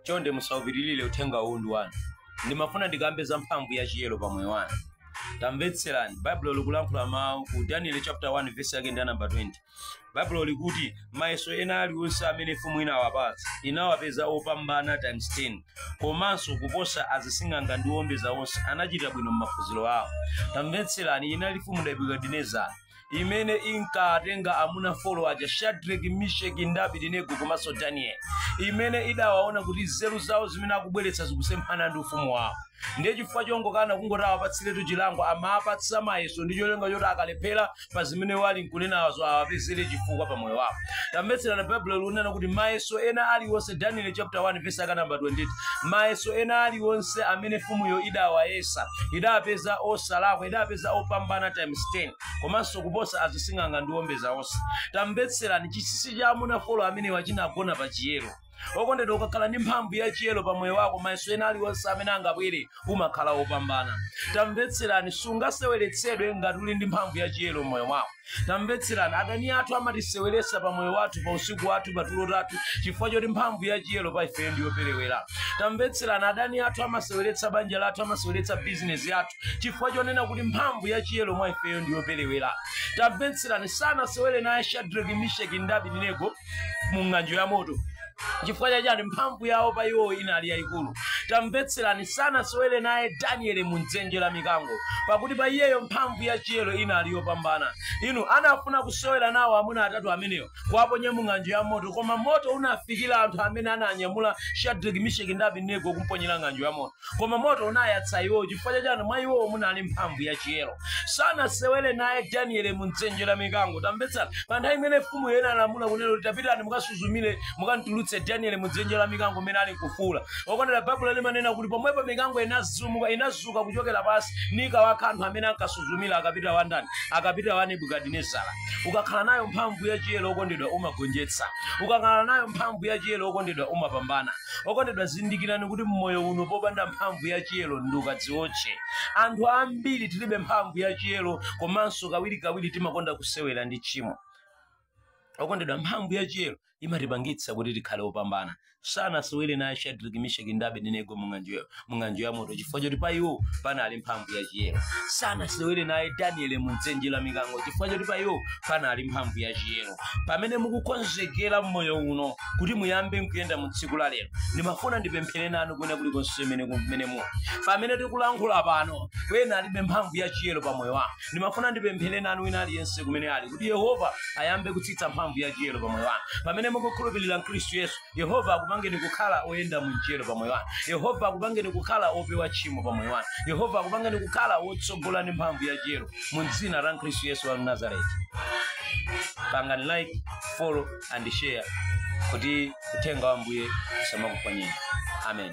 chonde musaupitilire uthenga uwu ndi wanu ndimafuna ndikambe za mphamvu ya chiyero pa moyo wanu tamvetserani baibulo likulankhula mawu ku daniel chapter 1 verse yake ndi ya namba 20 baibulo likuti mayeso ena alionse amene mfumu inawapatsa inawapeza opambana times 10 komanso kuposa azising'anga ndi owombeza onse anachita bwino m'maphunziro awo tamvetserani inali mfumu nebukadinezara imene inkatenga amuna folo aja shadraki misheki ndi abidinego komanso danieli imene idawaona kuti nzeru zawo zimene akubweretsa zikusemphana ndi ufumu wawo ndiye chifukwa chongokana kungoti awapatsiretu chilango amawapatsa mayeso ndi cholinga choti akalephera pa zimene wali nkunenazo awapezere chifukwa pa moyo wawo tamvetserani baibulo likunena kuti mayeso ena aliwonse daniel chapter 1 verse yake namba 28 mayeso ena aliwonse amene mfumuyo idawayesa idapeza osalakwa idapeza opambana times 10 komanso kuposa azising'anga ndi owombeza onse tamvetserani chisisi cha amuna folo amenewa chinagona pa chiyero okondedwa ukakhala ndi mphamvu ya chiyero pa moyo wako mayeso ena aliwonse amene angabwere umakhala wopambana tamvetserani sungaseweretsedwe ngati uli ndi mphamvu ya chiyero m'moyo mwako tamvetserani adani athu amatiseweretsa pa moyo wathu pa usiku wathu pa tulo tathu chifukwa choti mphamvu ya chiyero pa ifeyo ndi yoperewera tamvetserani adani athu amaseweretsa banja lathu amaseweretsa bizinesi yathu chifukwa chonena kuti mphamvu ya chiyero mwa ifeyo ndi yoperewera tamvetserani sanasewere naye shadraki misheki ndi abidinego mu ng'anjo ya moto chifukwa chachani mphamvu yawo pa iwo inali yayikulu tamvetserani sanasewere naye danieli mu dzenje la mikango pakuti pa iyeyo mphamvu ya chiyero inali yopambana inu anafuna kusewera nawo amuna atatu amenewo kuwaponya mu ng'anjo ya moto koma moto unafikira anthu amene ananyamula shadraki misheki ndi abidinego kumponyera ng'anjo ya moto koma moto unayatsa iwowo chifukwa chachani mwa iwowo munali mphamvu ya chiyero sanasewere naye daniele mu dzenje la mikango tamvetsani pa nthawi imene mfumu inalamula kunena kuti tapitani mukasuzumire mukantulutse daniele mu dzenje la mikango mmene ali nkufuula okondedwa baibulo limanena kuti pomwepo mikango inazumuka inazuka kuchokera pansi nkukawakha anthu amene ankasuzumira akapitawo a ndani akapitawo a nebukadinezara ukakhala nayo mphamvu ya chiyero okondedwa umagonjetsa ukakhala nayo mphamvu ya chiyero okondedwa umapambana okondedwa zindikirani kuti mmoyo uno popanda mphamvu ya chiyero ndi ukadziotche anthu ambiri tilibe mphamvu ya chiyero komanso kawirikawiri timakonda kusewera ndi tchimo okondedwa mphamvu ya chiyero imatipangitsa kuti tikhale opambana sanasewere naye shadraki misheki ndi abedinego mung'anjoyo mng'anjo ya moto chifukwa choti pa iwo panali mphamvu ya chiyero sanasewere naye daniele mu dzenje la mikango chifukwa choti pa iwo panali mphamvu ya chiyero pamene mukukonzekera mmoyo uno kuti muyambe nkuyenda mu tsiku la lero ndimafuna ndipemphere nanu kwina kulikonse mene kumene muli pamene tikulankhula pano wena alibe mphamvu ya chiyero pa moyo wanu ndimafuna ndipemphere nanu wina aliyense kumene ali kuti yehova ayambe kutsitsa mphamvu ya chiyero pa moyo wanu pamene mukukhulupirira mkhristu yesu yehova akupangeni kukhala oyenda mu chiyero pa moyo wanu yehova akupangeni kukhala opewa tchimo pa moyo wanu yehova akupangeni kukhala wotsogola ndi mphamvu ya chiyero mu dzina la khristu yesu wa nazareti pangani like follow and share kuti uthenga wa ambuye usamakuphonyeni amen